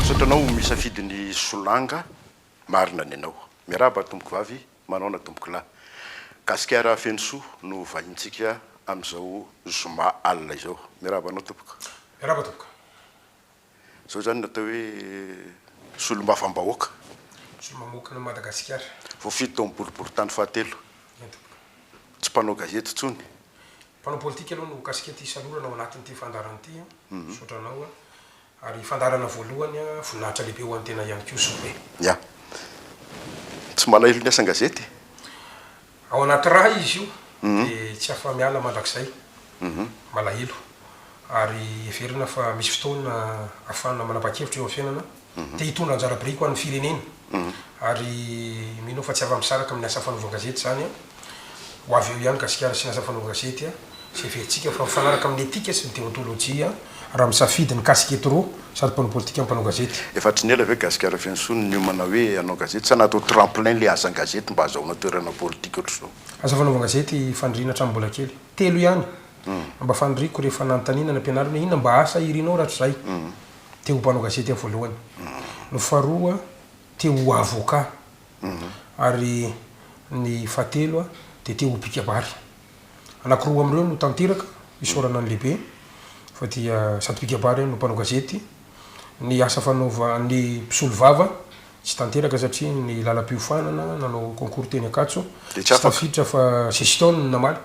Misaotra anao misafidy ny solanga marina ny anao. Miarahaba tompoko vavy, manaona tompoko lahy. Gasikara feno soa no vahintsika amin'izao zoma alina izao. Miarahaba anao tompoko. Miarahaba tompoko. Zao zany ny atao hoe solombavambahoaka. Solomamoakana an'i Madagasikara. Voafidy tao amin'ny boriborintany fahatelo. Tsy mpanao gazety intsony. Mpanao politika aloha no kasikety isalorana ao anatin'ity fandaharana ity a. Misaotra anao a. Ary fandaharana voalohany a, voninahitra lehibe ho an'ny tena ihany koa Sope. Ya. Tsy malahelo ny asan-gazety e. Ao anaty ra izy io dia tsy afa-miala mandrakizay, malahelo. Ary heverina fa misy fotoana ahafahana manapa-kevitra eo amin'ny fiainana, te hitondra anjara biriky ho an'ny firenena. Ary mino aho fa tsy afa-misaraka amin'ny asa fanaovan-gazety izany. Ho avy eo ihany Gasikara sy ny asa fanaovan-gazety, izay heverintsika fa mifanaraka amin'ny etika sy ny deontolojia raha misafidy ny casquette roa, sady mpanao politika no mpanao gazety. Efa tsy niela ve Gasikara feno soa no niomana hoe hanao gazety? Sa natao tremplin ilay asan-gazety mba hazahoana toerana politika ohatr'izao? Aza fanaovana gazety faniriana hatramin'ny mbola kely. Telo ihany no mba faniriako rehefa nanontaniana ny ampianarina hoe inona mba asa irinao rahatrizay? Te ho mpanao gazety aho voalohany. Ny faharoa, te ho avocat. Ary ny fahatelo, dia te ho mpikabary. Anakiroa amin'ireo no tanteraka isaorana ny lehibe fa dia sady mpikabary no mpanao gazety. Ny asa fanaova ny mpisolovava tsy tanteraka satria ny lalam-piofanana nanao concours teny Ankatso Dia tsy tsy afaka. tafiditra fa gestion no namaly.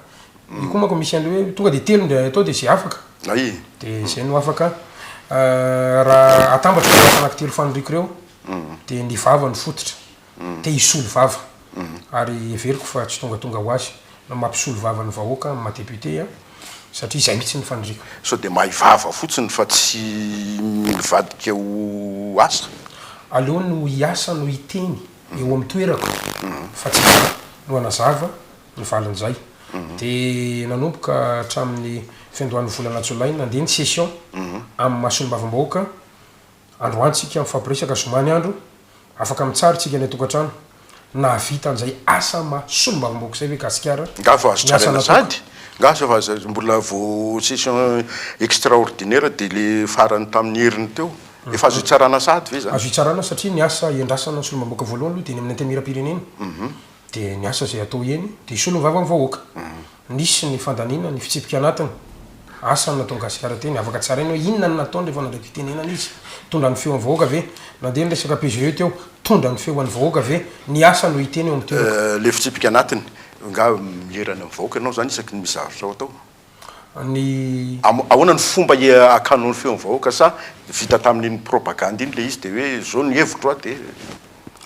Io koa manko misy an'ilay hoe tonga dia telo indray atao dia izay afaka. Hay! Dia izay no afaka. Raha atambatra ireo asa anankitelo faniriako ireo dia ny vava no fototra. te hisolo vava ary heveriko fa tsy tongatonga ho azy no mampisolo vava ny vahoaka amin'ny maha député an, satria izay mihitsy ny faniriako. Sao dia mahay vava fotsiny fa tsy mivadika ho asa? Aleo ny ho hiasa no hiteny eo amin'ny toerako fa tsy za no hanazava ny valin'izay. Dia nanomboka hatramin'ny fiandohan'ny volana jolay nandeha ny session amin'ny maha solombavambahoaka Androany tsika mifampiresaka zomany andro, afaka mitsara tsika any antokatrano, nahavita an'izay asa maha solombavambahoaka izay ve Gasikara? Nga fa azo tsaraina sady? Nga sa fa mbola vo session extraordinaire de le farany tamin'ny heriny teo? Efa azo itsarana sady ve zany? Azo itsarana satria ny asa iandrasana ny solombavambahoaka voalohany aloha dia eny amin'ny antemieram-pirenena, dia ny asa izay atao eny dia solomvavamvahoaka. Nisy ny fandaniana ny fitsipika anatiny. Asa ny nataon'i Gasikara teny. Avaka tsara iny hoe inona no nataony rehefa nandray fitenenana izy. Nitondra ny feo an'ny vahoaka ve? Nandeha ny resaka PGE teo. Nitondra ny feo an'ny vahoaka ve? Ny asa no hiteny eo amin'ny toerako. Ilay fitsipika anatiny. Angaha mierana amin'ny vahoaka ianao izany isaky ny misy zavitrao atao? Ny. Ahoana no fomba hiakanao ny feon'ny vahoaka sa vita tamin'iny propagandy iny ilay izy dia hoe izao ny hevitro aho dia.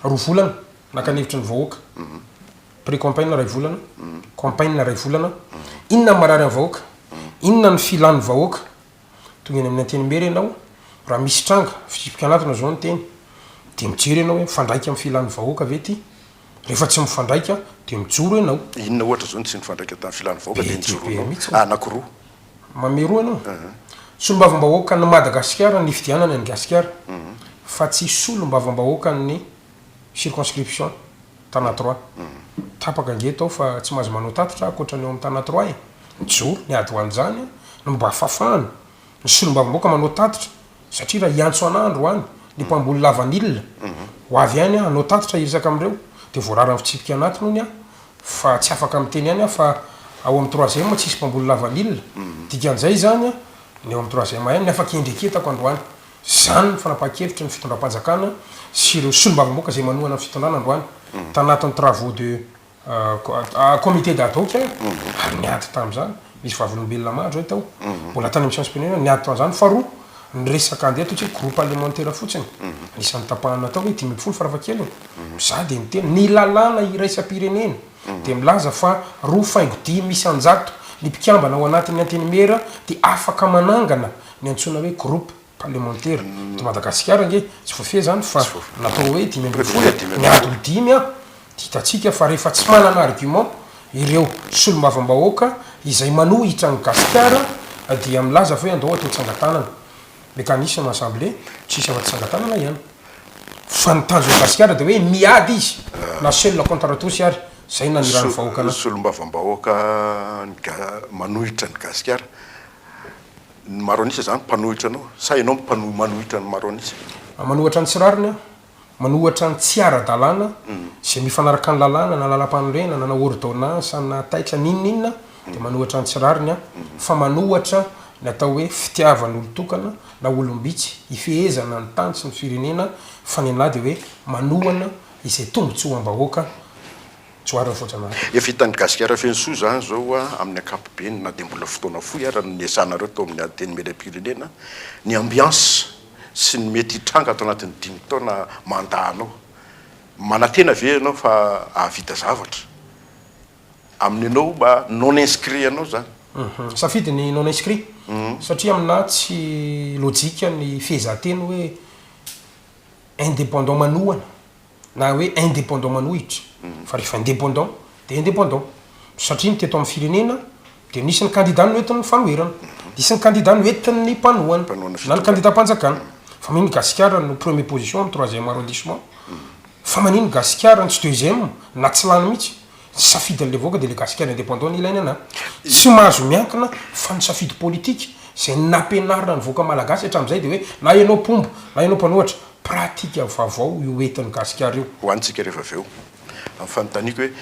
Roa volana naka ny hevitry ny vahoaka. Prix campagne iray volana, campagne iray volana, inona ny marary ny vahoaka, inona ny filan'ny vahoaka, tonga eny amin'ny Antenimiera ianao, raha misy tranga, fitsipi-kanatona izao ny teny, dia mijery ianao hoe mifandraika amin'ny filan'ny vahoaka ve ity, rehefa tsy mifandraika dia mijoro ianao. Inona ohatra izao no tsy nifandraika tamin'ny filan'ny vahoaka dia nijoroanao? Anankiroa. Mameroa ianao? Solombavambahoakan'i Madagasikara nifidianana an'i Gasikara fa tsy solombavambahoakan'ny circonscription tana trois. Tapaka ange tao fa tsy maza manao tatitra aho ankoatra ny ao amin'ny tana trois e! Mijoro ny ady ho an'izany no mba fafana ny solombavambahoaka manao tatitra satria raha hiantso anah androany ny mpamboly lavanila ho avy any aho hanao tatitra hiresaka amin'ireo dia voarara ny fitsipika anatiny hono aho fa tsy afaka miteny any aho fa ao amin'ny troisième tsy hisy mpamboly lavanila. Dikan'izay izany ny ao amin'ny troisième any ny afaka iendreketako androany Izany ny fanapahan-kevitry ny fitondram-panjakana sy ireo solombavambaoka izay manohana ny fitondrana androany, tanatin'ny travaux de comité d'ad hoc, ary niady tamin'izany. Nisy vavolombelona maro izay tao, mbola tany amin'ny seancem-plenary, niady tamin'izany. Faharoa, ny resaka andeha ataontsika hoe groupe parlementaire fotsiny, anisan'ny tapahana natao hoe dimy ambin'ny folo farafahakeliny, izaho dia niteny, ny lalàna iraisam-pirenena dia milaza fa roa faingo dimy isan-jato ny mpikambana ao anatin'ny Antenimiera dia afaka manangana ny antsoina hoe groupe parlemantera eto Madagasikara ange tsy voafehy zany fa natao hoe dimy ambin'ny folo e, miady ho dimy an! dia hitantsika fa rehefa tsy manana argument ireo solombavambahoaka izay manohitra an'i Gasikara dia milaza fa hoe andao atao tsangatanana mécanisme assemblée tsisy afa-tsy tsangatanana ihany fa ny tanjon'i Gasikara dia hoe miady izy na seul contre tous ary zay nanirahan'ny vahoaka anazy. Solombavambahoaka manohitra an'i Gasikara. ny maro an'isa zany mpanohitra anao sa ianao mpano manohitra ny maro an'isa? A manohatra ny tsy rariny aho, manohatra ny tsy ara-dalàna izay mifanaraka ny lalàna na lalampanorenana na ôrdônansa na taitra n'inon'inona aho dia manohatra ny tsy rariny aho fa manohatra ny atao hoe fitiavan'olon-tokana na olom-bitsy hifehezana ny tany sy ny firenena fa ny anah dia hoe manohana izay tombotsoam-bahoaka Tsoahina fotsiny an! Efa hitan'ny Gasikara feno soa izany izao amin'ny ankapobeny na dia mbola fotoana fohy ara no niasanareo tao amin'ny Antenimierampirenena. Ny ambiance sy ny mety hitranga ato anatin'ny dimy taona mandat anao. Manantena ve ianao fa hahavita zavatra? Amin'ny anao mba non inscrit anao izany? Safidy ny non inscrit satria amin'ahy tsy lojika ny fiezahan-teny hoe indépendant manohana. na hoe indépendant manohitra fa rehefa indépendant dia indépendant satria ny teto amin'ny firenena dia nisy ny kandida noentin'ny fanoherana, nisy ny kandida noentin'ny mpanohana na ny kandidam-panjakana fa maninona Gasikara no premier position amin'ny troisième arrondissement? fa maninona Gasikara no tsy deuxième na tsy lany mihitsy? Tsy safidin'ilay vahoaka dia ilay gasikara independant no ilaina na tsy mahazo miankina fa ny safidy politika izay nampianarina ny vahoaka malagasy hatramin'izay dia hoe na ianao mpomba na ianao mpanohatra, pratique vavao io entin'i gasikara io. Ho antsika rehefa avy eo, ny fanontaniako hoe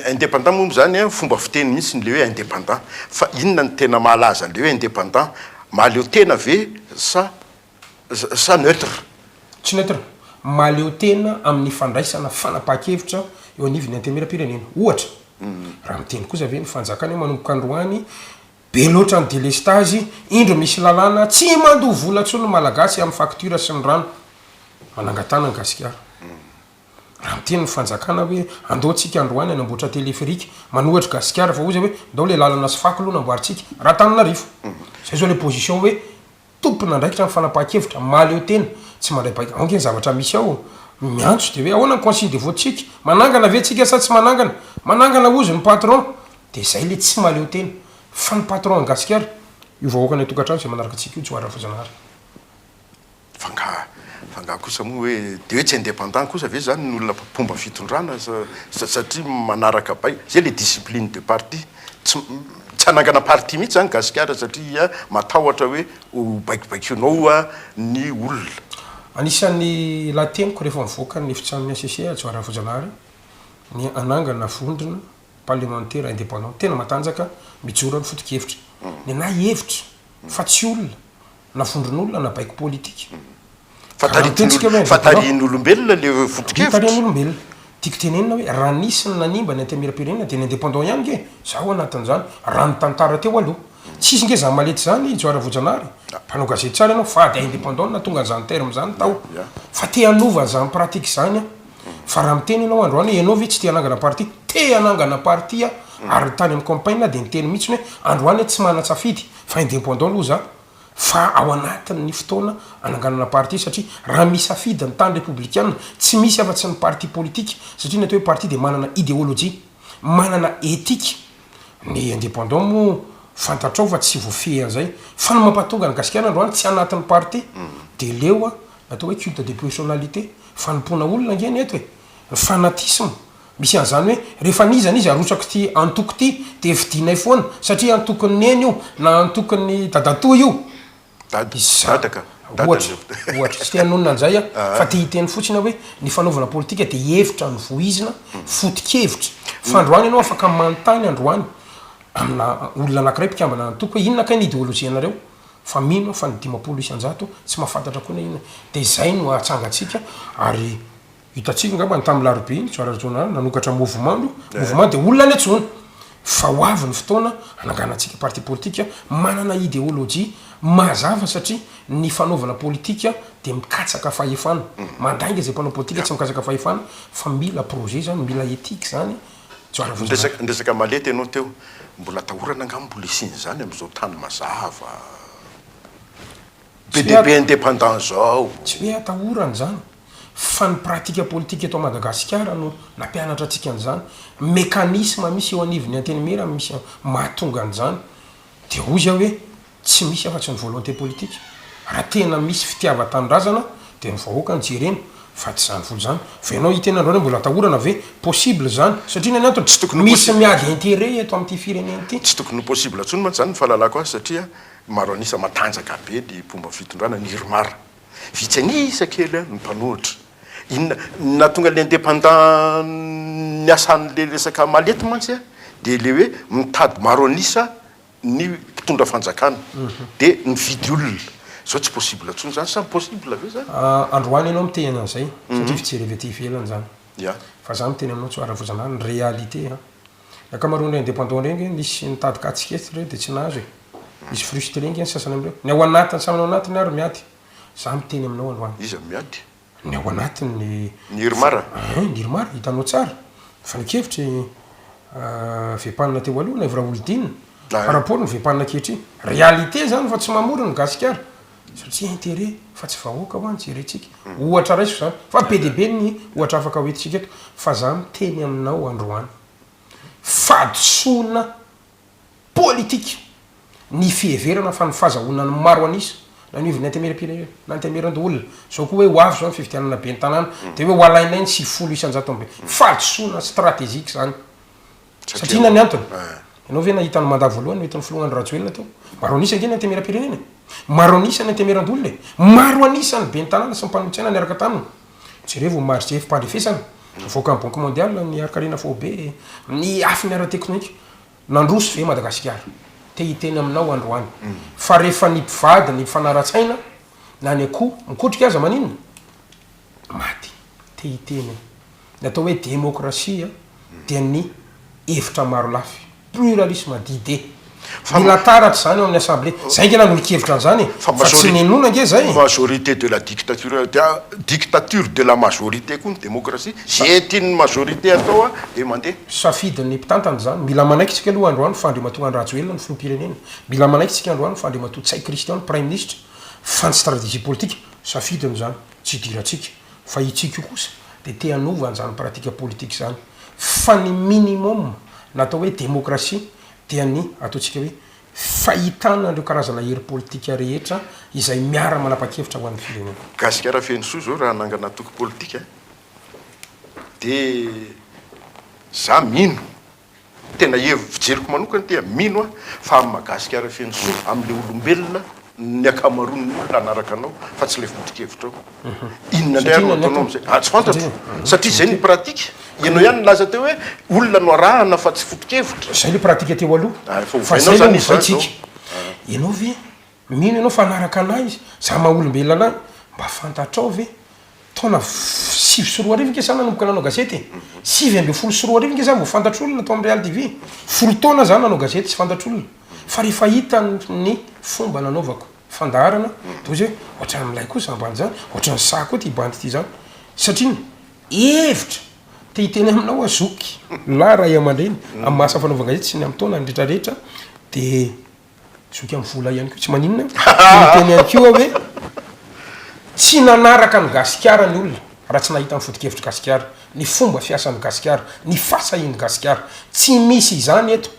in independant moa izany an, fomba fiteny mihitsy ny le hoe independant fa inona no tena mahalaza an'ilay hoe independant, mahaleo tena ve sa sa neutre? Tsy neutre. Mahaleo tena amin'ny fandraisana fanapahan-kevitra eo anivon'ny Antenimierampirenena. Ohatra, raha miteny kosa ve ny fanjakana hoe manomboka androany, be loatra ny delestazy, indro misy lalàna, tsy mandoa vola intsony ny Malagasy amin'ny facture sy ny rano. Manangatana an'i Gasikara. Raha miteny ny fanjakana hoe andao tsika androany hanamboatra téléphérique, manohitra Gasikara fa hoy izay hoe ndao ilay lalana sy fako aloha namboarintsika. Raha Antananarivo. Izay izao ilay position hoe tompon'andraikitra amin'ny fanapahan-kevitra, mahaleo tena, tsy mandray baiko, ao ange ny zavatra misy ao, miantso dia hoe ahoana ny consigne de vote-tsika? Manangana ve tsika sa tsy manangana? Manangana hozy ny patron, dia zay le tsy mahaleo tena, fa ny patron an'i Gasikara, io vahoaka any an-tokantrano izay manaraka antsika io tsy ho adran'i Voajanahary. Fa nga, fa nga kosa moa hoe dia hoe tsy indépendant kosa ve zany ny olona mpomba fitondrana sa, satria manaraka baiko, zay le discipline de parti. Tsy tsy hanangana parti mihitsy zany gasikara satria matahotra hoe ho baikobaikonao ny olona. Anisan'ny lahateniko rehefa mivoaka ny efitranon'ny HCC Hajo Haravojanahary ny hanangana vondrona parlemantera indépendant tena matanjaka mijoro amin'ny fotokevitra. Ny anah hevitra fa tsy olona. na fondron'olona na baiko politika. Fa taritin'olona, fa tarihin'olombelona le foto-kevitra. Tarihin'olombelona. Tiako tenenina hoe raha nisy ny nanimba ny antemieram-pirenena dia ny indépendants ihany nge, za ao anatin'izany, raha ny tantara teo aloha. Tsisy nge za malety zany Joara Voajanahary, mpanao gazety tsara ianao, fady à indépendants no nahatonga an'izany terme izany tao. Fa te hanova an'izany pratique izany aho. Fa raha miteny ianao androany hoe ianao ve tsy te hanangana parti, te hanangana parti aho, ary tany amin'ny campagne aho dia niteny mihitsiny hoe androany aho tsy manan-tsafidy, Fa independant aloha za fa ao anatin ny fotoana ananganana parti satria raha misafidy ny tany repoblikiana tsy misy afa tsy ny parti politique satria ny atao hoe parti dia manana ideology, manana ethique, ny independant moa fantatrao fa tsy voafehy an'izay fa ny mampatonga ny gasikara androany tsy anaty ny parti dia leo atao hoe culte de personnalité fanompoana olona ange ny eto e, ny fanatisme. Misy an'izany hoe rehefa anizany izy arotsak'ity antoko ity dia fidinay foana satria antokon'i Neny io na antokon'i Dadatoa io. Dada, dada ka. Ohatra, ohatra. Tsy te hanonona an'izay aho fa te hiteny fotsiny aho hoe ny fanaovana politika dia hevitra novoizina, foto-kevitra. F'androany ianao afaka manontany androany amina olona anankiray mpikambana antoko hoe inona kay ny ideolojianareo? Fa mino aho fa ny dimampolo isan-jato tsy mahafantatra koa na inona. Dia izay no atsangantsika ary. Hitantsika angamba ny tamin'ny larobia iny, soir régional, nanokatra mouvement aloha, mouvement dia olona any an-tsoana. Fa ho avy ny fotoana hananganantsika parti politique manana idéologie mazava satria ny fanaovana politique dia mikatsaka fahefana. Mandainga izay mpanao politique tsy mikatsaka fahefana fa mila projet izany, mila ethique izany soir régional. Ny resaka malety ianao teo, mbola atahorana angamba ny mbola hisian'izany amin'izao tany mazava be dia be indépendant izao. Tsy hoe atahorana izany. fa ny pratika politika eto Madagasikara no nampianatra antsika an'izany, mécanisme misy eo anivon'ny Antenimiera no misy mahatonga an'izany, dia hoy aho hoe tsy misy afa tsy ny volonté politique, raha tena misy fitiavan-tanindrazana dia ny vahoaka no jerena fa tsy izany foana izany, fa ianao hiteny androany hoe mbola atahorana ve? possible izany, satria inona ny antony? misy miady intérêt eto amin'ity firenena ity. Tsy tokony ho possible intsony mantsy izany ny fahalalako azy satria maro an'isa matanjaka be ny mpomba fitondrana ny Irmar. Vitsy an'isa kely no mpanohitra. Inona no nahatonga ny indépendant niasa an'le resaka malety mantsy dia le hoe mitady maro an'isa ny mpitondra fanjakana dia mividy olona. Zao tsy possible tsony zany sa possible ve zany? Androany ianao miteny an'izay satria fijery avy aty ivelany izany. Fa za miteny aminao Tsoaravozanah ny réalité an! Ankamaroan'ireo indépendants ireo ange nisy nitady katsiketsy ireo dia tsy nahazo e! Misy frustre ange ny sasany amin'ireo. Ny ao anatiny samy ao anatiny ary miady. Za miteny aminao androany. Iza miady? Ny ao anatiny ny. Ny Irmar? Eeh ny Irmar hitanao tsara. Fanehonkevitra i Vempanina teo aloha na i Vrahouldine par rapport ny Vempanina ankehitriny. Réalité zany fa tsy mamory ny gasikara. Satria intérêt fa tsy vahoaka ho'a ny jerentsika. Ohatra raiso izany, fa be dia be ny ohatra afaka hoentintsika eto. Fa za miteny aminao androany, fahadisoana politika ny fiheverana fa ny fahazahonan'ny maro an'isa naniovin'ny Antenimierampirenena na Antenimierandoholona, zao koa hoe ho avy zao ny fifidianana ben'ny tanàna, dia hoe ho alainay ny sivifolo isan-jato amby fahadisoana stratégique izany. Satria inona ny antony? Ianao ve nahita ny mandat voalohany noentin'ny filoha Andry Rajoelina teo? Maro an'isa ange ny antemeram-pirenena e! Maro an'isa ny antemeran-dolona e! Maro an'isa ny ben'ny tanàna sy ny mpanolotsaina niaraka taminy! Jerevo ny marge fipandrefesana avoakan'ny Banque Mondiale ny harin-karena faobe amin'ny lafiny ara-teknoika. Nandroso ve Madagasikara? Te hiteny aminao androany fa rehefa ny mpivady ny mifanara-tsaina na ny akoho mikotrika aza maninona? Maty. Te hiteny aho. Ny atao hoe demokrasia dia ny hevitra maro lafy, pluralisme d'idées. Mila taratra izany ao amin'ny assemblée. Izay ange nanolo-kevitra an'izany e! Fa tsy ninoana ange izay e! Majorité de la dictature, dia dictature de la majorité koa ny demokrasia. Izay tian'ny majorité atao dia mandeha. Safidin'ny mpitantana izany. Mila manaiky isika aloha androany fa Andriamatoa Andry Rajoelina no filoham-pirenena. Mila manaiky isika androany fa Andriamatoa Ntsay Christian no praiminisitra, fa ny stratégie politique, safidiny izany, tsy idirantsika. Fa i Tsiko kosa dia te hanova an'izany pratique politique izany. Fa ny minimum na atao hoe démocratie dia ny ataontsika hoe fahitana an'ireo karazana hery politika rehetra izay miara-manapa-kevitra ho an'ny firenena. Gasikara feno soa izao raha hanangana antoko politika dia za mino Tena hevi fijeriko manokana dia mino aho fa amin'ny Magasikara feno soa amin'ilay olombelona ny ankamaroan'ny olona hanaraka anao fa tsy ilay foto-kevitrao. Inona indray ary no ataonao amin'izay? Ah, tsy fantatro. Satria izay ny pratique. Ianao ihany nilaza teo hoe olona no arahana fa tsy foto-kevitra. Izay ilay pratique teo aloha. Ah, efa ovainao izany izany izao. Ianao ve. Mino ianao fa hanaraka anay izy, izaho maha olombelona anay. Mba fantatrao ve, taona sivy sy roa arivo ange izaho nanomboka nanao gazety e! Sivy ambin'ny folo sy roa arivo ange izaho vao fantatr'olona tao amin'ny Real TV. Folo taona izaho nanao gazety tsy fantatr'olona. Fa rehefa hitany ny fomba nanaovako fandaharana, dia hozy hoe, ohatran'ny milay koa izany bandy izany, ohatran'ny sahy koa ity bandy ity izany. Satria ny hevitra te hiteny aminao aho zoky lahy ray aman-dreny amin'ny maha asa fanaovan-gazety sy ny amin'ny taonany rehetrarehetra dia Zoky amin'ny vola ihany koa tsy maninona an! Dia niteny ihany koa aho hoe tsy nanaraka an'i Gasikara ny olona raha tsy nahita ny foto-kevitr'i Gasikara, ny fomba fiasan'i Gasikara, ny fahasahian'i Gasikara. Tsy misy izany eto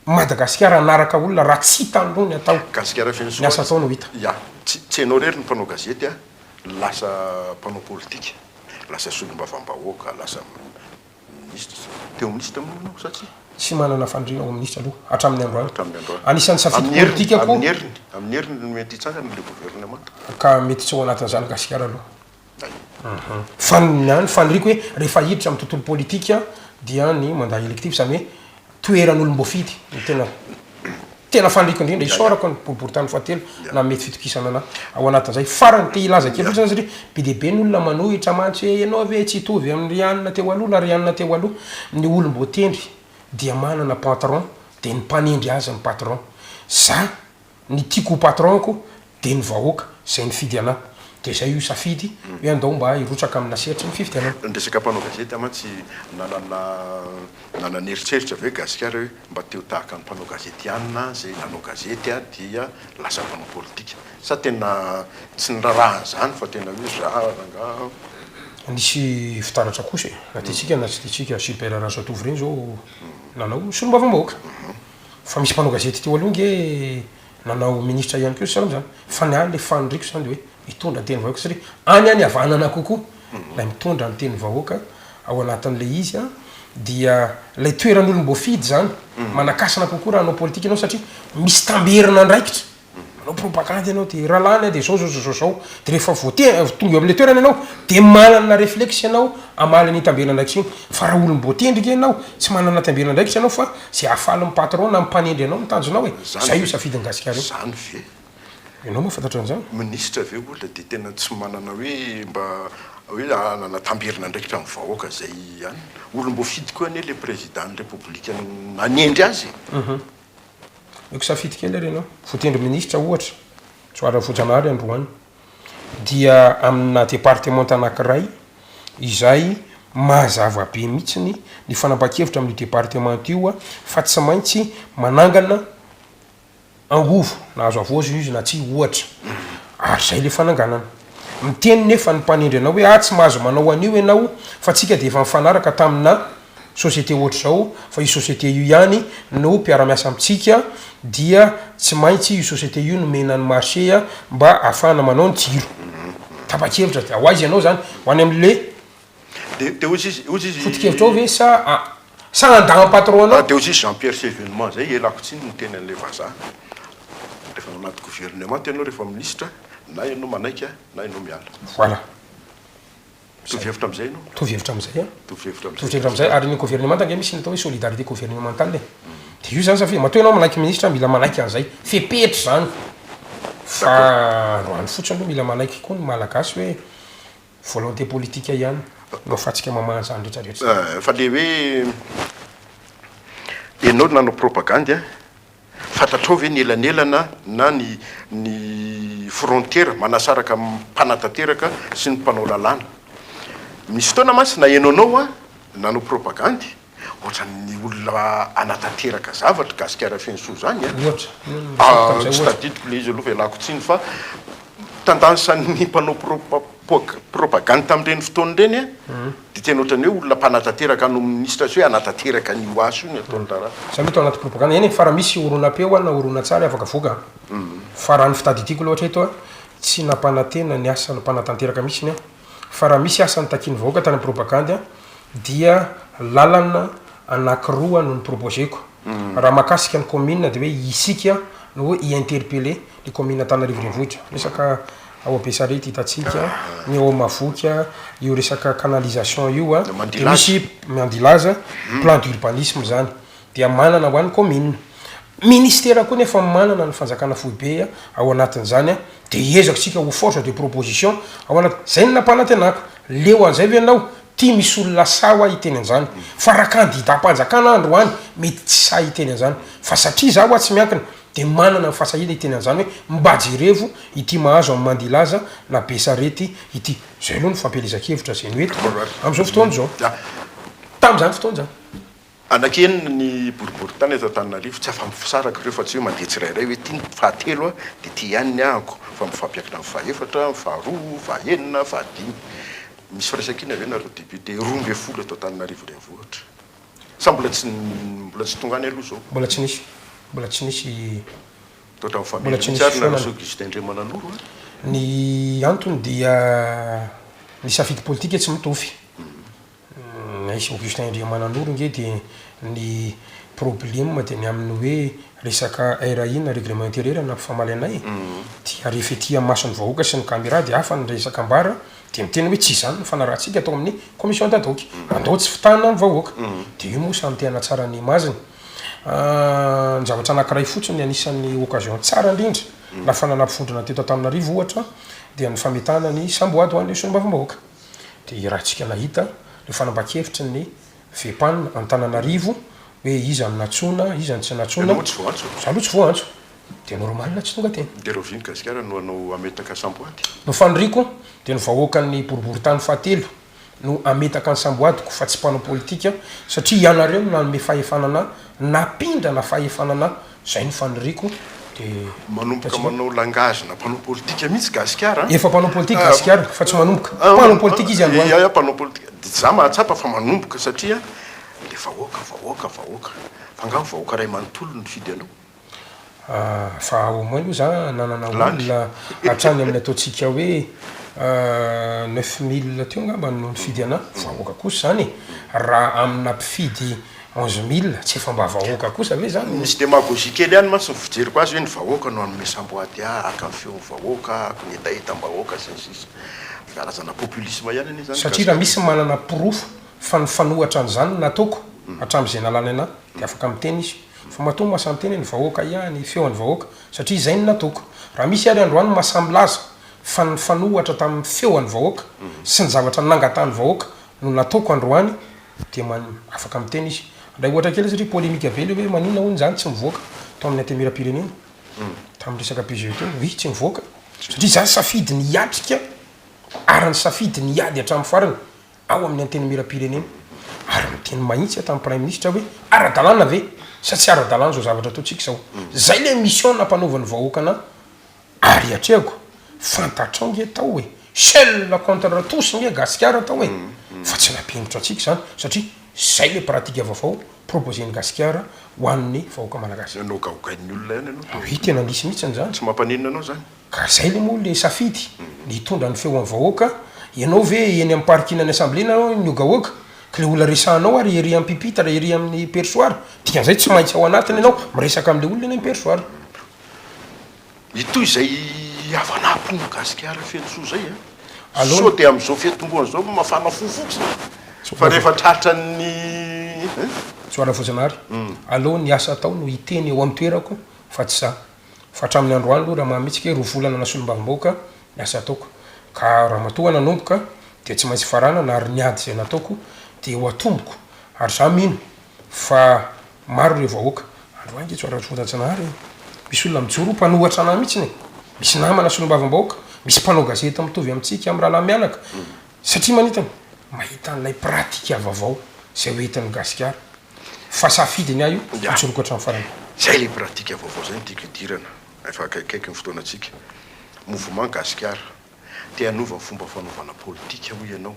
Madagasikara hanaraka olona raha tsy hitan'ny loha ny atao, Gasikara feno ny asa atao no hita. Soa, yeah. Tsy tsy ianao irery no mpanao gazety an! Lasa mpanao politika, lasa solombavambahoaka, lasa. Minisitra. Teo Minisitra moa ianao sa tsia? Tsy manana fandriana ho Minisitra aloha hatramin'ny androany. Hatramin'ny androany. Anisan'ny safidy politikako. Amin'ny heriny, amin'ny heriny no mety hitsangana ilay governemanta. Ka mety tsy ao anatin'izany Gasikara aloha. Hay. Fa ny ahy ny faniriako hoe rehefa hiditra amin'ny tontolo politika dia ny mandat électif izany hoe toeran'olom-boafidy no tena tena faniriako indrindra, isaorako ny boriborintany fahatelo nanome ity fitokisana anah ao anatin'izay. Farany, te hilaza kely fotsiny zany satria be dia be ny olona manohitra mantsy hoe ianao ve tsy hitovy amin'ny ry anona teo aloha na ry anona teo aloha. Ny olom-boatendry dia manana patron dia ny mpanendry azy ny patron. Zah Ny tiako ho patron ko dia ny vahoaka izay nifidy anah. Dia izay io safidy hoe andao mba hirotsaka amina sehatry ny fifidianana. Ny resaka mpanao gazety aho mantsy nanana nanana eritreritra ve gasikara hoe mba te ho tahaka ny mpanao gazety ihany na izay nanao gazety aho dia lasa mpanao politika sa tena tsy niraraha an'izany fa tena hoe za rangaha Nisy fitaratra kosa e, na tiantsika na tsy tiantsika, Gilbert Razatovy ireny izao nanao solombavambahoaka. Fa misy mpanao gazety teo aloha nge nanao ministra ihany koa saroana zany fa ny ahy le faniriko zany de hoe hitondra ny teny vahoaka satria any any havanana kokoa lay mitondra ny teny vahoaka ao anatin'le izy a dia lay toeran'olom-boafidy zany manakasina kokoa raha hanao politika ianao satria misy tamberin'andraikitra Manao propagande ianao de rahalahiny de zao zao zao zao zao de rehefa voateny tonga eo amle toerana ianao de manana reflexe ianao hamaly an'iny tambena andraikitra iny fa raha olom-boatendrika ianao tsy manana tambena andraikitra ianao fa ze hahafaly ny patron na ny mpanendry anao no tanjonao e! Zay io safidin'i Gasikara io. Zany ve? Ianao moa fantatra an'zany? Ministra ve olona de tena tsy manana hoe mba hoe hanana tamberina andraikitra amin'ny vahoaka zay ihany? Olom-boafidy koa anie le Président ny République nanendry azy e! Omeko safidy kely ary ianao. Votendry minisitra ohatra, Johary Rafojanahary androany, dia amina departemanta anankiray izay mazava be mihitsy ny fanapan-kevitra amin'io departemanta io fa tsy maintsy manangana angovo na hazo havozo izy na tsia ohatra. Ary izay ilay fananganana. Miteny nefa ny mpanendry anao hoe, ah tsy mahazo manao an'io ianao fa tsika dia efa nifanaraka tamina société ohatr'izao fa io société io ihany no mpiara-miasa amintsika dia tsy maintsy io société io nomena ny marché mba ahafahana manao ny jiro. Tapa-kevitra, dia ho aiza ianao izany? Ho any amin'le. Dia dia ozy izy ozy izy. Fotokevitrao ve sa a sa nandà an'i patron anao? Dia ozy izy Jean Pierre sy Evenement zay elako tsiny niteny an'ilay vazaha rehefa ao anaty gouvernement ianao rehefa ministra na ianao manaiky na ianao miala. Voilà. Mitovy hevitra amin'izay ianao? Mitovy hevitra amin'izay an. Mitovy hevitra amin'izay. Mitovy hevitra amin'izay ary ny gouvernement ange misy ny atao hoe solidarité gouvernementale e. Dia io zany safidy matoa ianao manaiky ministra mila manaiky an'izay fepetra zany fa androany fotsiny aloha mila manaiky koa ny malagasy hoe Volonté politique ihany no afatsika mamaha an'izany rehetra rehetra izany. Eh, fa le hoe ianao no nanao propagandy an, fantatrao ve ny elanelana na ny ny frontiera manasaraka ny mpanatanteraka sy ny mpanao lalàna? Misy fotoana mantsy na ianao nao an nanao propagandy Ohatran'ny olona hanatanteraka zavatra, Gasikara feno soa zany an! Ohatra, Tsy tadidiko le izy aloha fa ialako tsiny fa tandansan'ny mpanao propagande tamin'ireny fotoana ireny an, dia tena ohatran'ny hoe olona mpanatanteraka hanao minisitra sy hoe hanatanteraka an'io ho azy io ny ataon'ny raharaha. Zany hoe tao anaty propagande, eny e, fa raha misy horonam-peo an na horonantsary afaka avoaka an, fa raha ny fitadidiako aloha hatreto an, tsy nampanantena ny asa mpanatanteraka mihitsiny an. fa raha misy asa nitakian'ny vahoaka tany amin'ny propagandy dia lalana anankiroa no ni-proposer-ko. Raha mahakasika ny kaominina dia hoe isika no i interpeller ny kaominina Antananarivo Renivohitra. Resaka ao Besarety hitantsika, ny ao Mahavoky, io resaka canalisation io dia misy Mandilaza, plan d'urbanisme izany. dia manana ho an'ny kaominina. Ministera koa nefa manana ny fanjakana foibe ao anatin'izany dia hiezaka isika ho force de proposition ao anaty, izay no nampanantenako, leo an'izay ve ianao? Ty misy olona sahy hoa hiteny an'izany fa raha kandidam-panjakana aho androany mety tsy sahy hiteny an'izany fa satria za hoa tsy miankina dia manana ny fahasahiana hiteny an'izany hoe mba jerevo ity mahazo an'i Mandilaza na Besarety ity. Izay aloha no fampielezan-kevitra izay no hety amin'izao fotoana izao. Tamin'izany fotoana izany. Anankienina ny boriborintany eto Antananarivo, tsy afa-misaraka ireo fa tsy hoe mandeha tsirairay hoe ity ny fahatelo an, dia ity ihany ny ahako, fa mifampiankina amin'ny fahaefatra, ny faharoa, fahaenina, fahadimy. Misy firaisankina ve nareo députés roa ambin'ny folo eto Antananarivo renivohitra? Sa mbola tsy mbola tsy tonga any aloha izao? Mbola tsy nisy, mbola tsy nisy, Misaotra amin'ny famehana mihitsy ary nareo Soa Gustin ndray mananoro an! Ny antony dia ny safidy politika tsy mitofy. Aici Augustin Andriamananoro nge dia ny probleme dia ny aminy hoe resaka RAI na règlement intérieur na mpifamaliana e, dia rehefa ety amason'ny vahoaka sy ny camera dia hafa ny resaka ambara dia miteny hoe tsy izany ny fanarahantsika atao amin'ny commission d'ad hoc, andao tsy fitahana ny vahoaka, dia io moa samy te hanatsara ny image-ny. Ny zavatra anakiray fotsiny anisan'ny occasion tsara indrindra nahafahana nampivondrona teto Antananarivo ohatra dia ny fametahana ny samboady ho an'ireo solombavambahoaka. Dia raha tsika nahita le fanambakevitry ny Fepan Antananarivo hoe iza no natsoina iza no tsy natsoina. Ianao tsy voantso. Za aloha tsy voantso dia normal tsy tonga teny. Dia rahovian'ny Gasikara no hanao hametaka samboady? No faniriako dia ny vahoakan'ny boriboritany fahatelo no hametaka ny samboadiko fa tsy mpanao politika satria ianareo no nanome fahefana anah, napindrana fahefana anah Zay no faniriako dia. Manomboka manao langage na mpanao politika mihitsy gasikara an. Efa mpanao politika gasikara fa tsy manomboka. Mpanao politika izy androany. Ia ia mpanao politika. Za mahatsapa fa manomboka satria le vahoaka vahoaka vahoaka. Fa nga vahoaka ray manontolo nifidy anao? Fa au moins aloha za nanana olona hatrany amin'ny ataontsika hoe neuf mille teo ngamba no nifidy anah. Vahoaka kosa zany e. Raha amina mpifidy. onze mille tsy efa mba vahoaka kosa ve zany no. Misy demagogie kely ihany mantsy ny fijeriko azy hoe ny vahoaka no hanome samboady ahy haka ny feon'ny vahoaka haka ny hetahetam-bahoaka sy ny sisa Karazana populisme ihany anie izany. Satria raha misy manana porofo fa nifanohatra an'izany ny nataoko hatramin'izay nalany anah dia afaka miteny izy fa matoa masaha miteny hoe ny vahoaka ihany feo an'ny vahoaka satria izay no nataoko. Raha misy ary androany masaha milaza fa nifanohatra tamin'ny feo an'ny vahoaka sy ny zavatra nangatahan'ny vahoaka no nataoko androany dia man afaka miteny izy ndray ohatra kely satria polemika be le hoe maninona hono zany tsy mivoaka tao amin'ny antemieram-pirenena tamin'ny resaka PGE teo oui tsy mivoaka satria za safidy ny hiatrika ary nisafidy ny hiady hatramin'ny farany ao amin'ny antenimieram-pirenena ary niteny mahitsy aho tamin'ny praiminisitra aho hoe ara-dalàna ve sa tsy ara-dalàna zao zavatra ataontsika zao zay le mission nampanaovan'ny vahoaka anah Ary atrehako, fantatrao nge tao e, seul contre tous nge Gasikara tao e, fa tsy nampihentitra antsika izany satria zay le pratique vaovao proposen'i Gasikara ho an'ny vahoaka Malagasy. Nanao gaogain'ny olona ihany ianao tao. Oui, tena nisy mihitsiny izany. Tsy mampaninona anao izany. Ka zay le moa le safidy, ny hitondra ny feon'ny vahoaka, ianao ve eny amin'ny parking an'ny assemblée na ny gahoaka, ka le olona resahanao ary ery ampipitre, ery amin'ny perchoir, dikan'izay tsy maintsy ao anatiny ianao miresaka amin'le olona eny amin'ny perchoir. Ny toy izay havanà mpino gasikara feno soa izay a! Aleo Sao dia amin'izao fiantombohana izao mafana fo fotsiny Sao fa rehefa tratran'ny eh? Soara Voajanahary, aleo ny asa atao no hiteny eo amin'ny toerako fa tsy izaho. Fa hatramin'ny androany aloha raha mahametsika hoe roa volana nasolombavambahoaka ny asa ataoko. Ka ramatoa nanomboka dia tsy maintsy faranana ary ny ady izay nataoko dia ho atomboko ary izaho mino Fa maro ireo vahoaka. Andro ahy ngetso ara soratsnahary e! Misy olona mijoro ho mpanohatra anah mihitsiny e! Misy namana solombavambahoaka, misy mpanao gazety mitovy amintsika amin'ny rahalahy mianaka, satria manintona, mahita an'ilay pratika vavao izay ho entin'ny Gasikara. Fa safidy ny ahy io, mijoroako hatramin'ny farany. Izay ilay pratika vaovao izay no tiako hidirana, efa akaikikaiky ny fotoanantsika. Mouvement Gasikara, te hanova ny fomba fanaovana politika hoy ianao.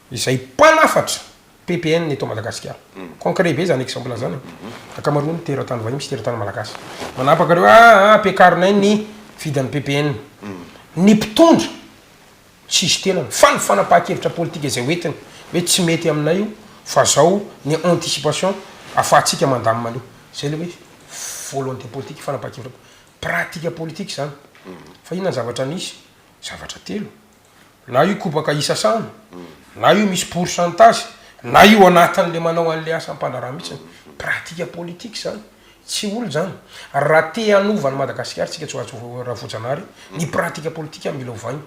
izay mpanafatra PPN eto Madagasikara. Concret be zany exemple zany e. Ankamaroan'ny teratany vahiny sy teratany malagasy manapaka reo ah ah ampiakarinay ny vidin'ny PPN. Ny mpitondra tsisy tenany fa ny fanapahan-kevitra politika izay hoentiny hoe tsy mety aminay io fa zao ny anticipation afahantsika mandamina an'io. Zay le hoe volonté politique, fanapahan-kevitra pratika politika zany. Fa inona ny zavatra nisy? Zavatra telo. na io kobaka isasana, na io misy pourcentage, na io anatin'le manao an'le asam-pandraharaha mihitsy, pratique politique zany, tsy olona zany, raha te hanova an'i Madagasikara tsika tsy ho Rafojanahary ny pratique politique mila ovaina,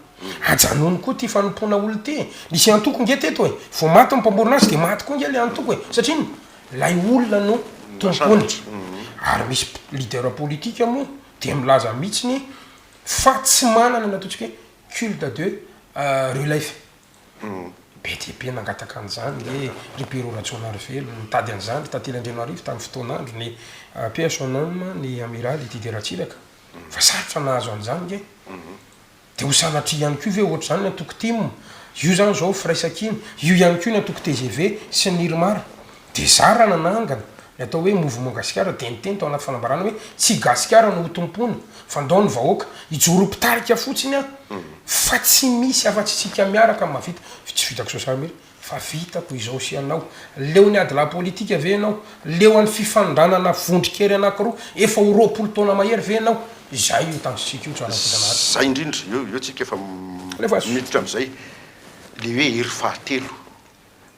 ajanony koa ty fanompoana olona ty e, nisy antoko nge teto e, vao maty ny mpamorona azy de maty koa nge le antoko e, satria ino? lay olona no tompony, ary misy leader politique moa dia milaza mihitsiny fa tsy manana ny ataontsika hoe culte de rue Laifa. Be dia be nangataka an'izany le ry Perrot Rajaonarivelo, nitady an'izany ry Tantely Andrianarivo tamin'ny fotoan'andro, ny paix à son âme, ny Amiraly Didier Ratsiraka, fa sarotra nahazo an'izany nge. Dia ho sanatria ihany koa ve ohatr'izany ny antoko tim, io izany izao firaisankina, io ihany koa ny antoko tgv sy ny Irmar, Dia zah raha nanangana ny atao hoe Mouvement Gasikara dia niteny tao anaty fanambarana hoe tsy i Gasikara no ho tompoina fa ndao ny vahoaka hijoro ho mpitarika fotsiny aho fa tsy misy afa tsy isika miaraka no mahavita. Tsy vitako sosara mihitsy fa vitako izao sy ianao. Leo ny adilahy politika ve ianao? Leo an'ny fifandranana vondron-kery anankiroa efa ho roapolo taona mahery ve ianao? Izay io tanjontsika io tsara indrindra an'ady. Izay indrindra, eo eo tsika efa miditra amin'izay, ilay hoe hery fahatelo.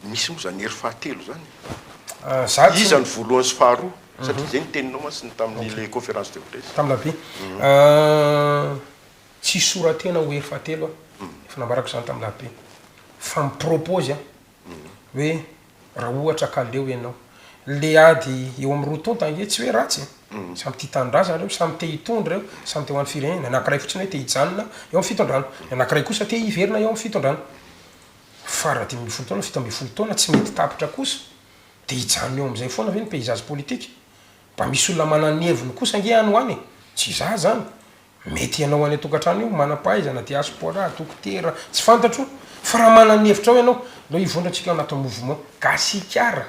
Misy moa izany hery fahatelo izany e? Iza no voalohany sy faharoa? Satria izay no teninao mantsy tamin'ilay conférence de presse. Tamin'ny la vie. Tsisy sora-tena ho hery fahatelo aho, efa nambarako izany tamin'ny la vie. Fa mi-propose aho hoe raha ohatra ka leo ianao. Ilay ady eo amin'ny roa tonta ange tsy hoe ratsy e! Samy tia tanindrazana ireo, samy te hitondra ireo, samy te ho an'ny firenena. Ny anankiray fotsiny hoe te hijanona eo amin'ny fitondrana. Ny anankiray kosa te hiverina eo amin'ny fitondrana. Fara dimy ambin'ny folo taona, fito ambin'ny folo taona, tsy mety tapitra kosa, dia hijanona eo amin'izay foana ve ny paysage politique? Mba misy olona manana ny heviny kosa ange any ho any e! Tsy izaho izany, mety ianao any an-tokantrano io, manam-pahaizana, diaspora, dokotera, tsy fantatro, fa raha manana ny hevitrao ianao, aleo hivondra antsika ao anatin'ny mouvement Gasikara!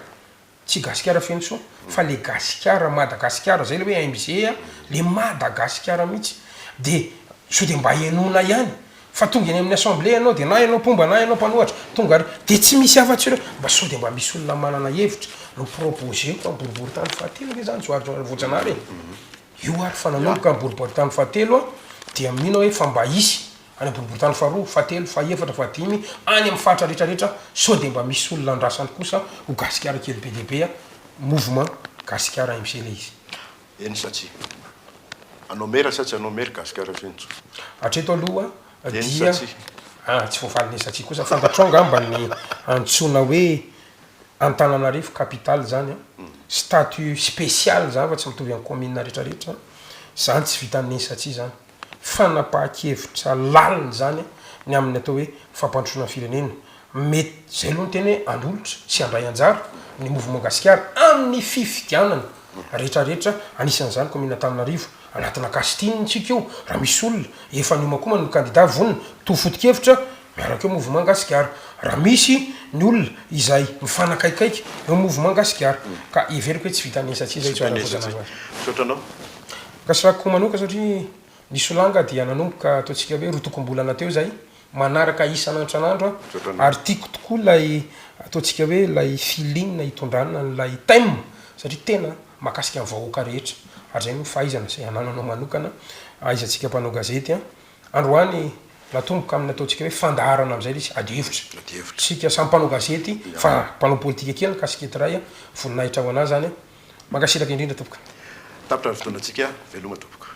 Tsy gasikara feno soa fa le gasikara madagasikara zay le hoe MJ a, le madagasikara mihitsy de sao de mba henoina ihany fa tonga eny amin'ny assemblée ianao de na ianao mpomba na ianao mpanohatra tonga ary de tsy misy afa tsy ireo, mba sao de mba misy olona manana hevitra no proposer-ko amin'ny boriboritany fahatelo ve zany zao ary voajanahary e, io ary fa nanomboka ny boriboritany fahatelo aho dia mino aho hoe fa mba hisy any amboriboritany faharoa, fahatelo, fahefatra, fahadimy, any amin'ny faritra rehetra rehetra sao dia mba misy olona andrasany kosa ho gasikara kely be dia be a! mouvement gasikara MC le izy. Eny sa tsia? Anao mera sa tsy anao mera gasikara feno tsotra. Hatreto aloha dia. Eny sa tsia? Ah tsy voafaly ny eny sa tsia kosa, fantatrao angamba ny antsoina hoe Antananarivo capitale izany a! statut spécial izany fa tsy mitovy amin'ny commune rehetra rehetra, izany tsy vitan'ny eny sa tsia izany. fanapahan-kevitra lalina izany ny amin'ny atao hoe fampandrosoana ny firenena. Mety izay aloha ny tena hoe handolotra sy handray anjara ny Mouvement Gasikara amin'ny fifidianana rehetra rehetra, anisan'izany kaominina Antananarivo. Anatina casting ntsika io, raha misy olona efa niomakomana ny kandida vonona mitovy foto-kevitra, miaraka eo Mouvement Gasikara. Raha misy ny olona izay mifanakaikaiky eo Mouvement Gasikara, ka heveriko hoe tsy vitan'ny esa tsy esa io. Misaotra anao. Kasirako manoka satria ny solanga dia nanomboka ataontsika hoe rotokom-bolana teo izay, manaraka isan'antrnandro ary tiako tokoa ilay ataontsika hoe ilay feeling hitondrana an'ilay thème satria tena mahakasika ny vahoaka rehetra ary izay no fahaizana izay anananao manokana ahaizantsika mpanao gazety an! Androany natomboka amin'ny ataontsika hoe fandaharana amin'izay ilay izy, adihevitra, isika samy mpanao gazety fa mpanao politika kely ny casquette iray an! voninahitra ho anà izany an! Mankasitraka indrindra tompoko. Tapitra ny fotoanantsika, veloma tompoko.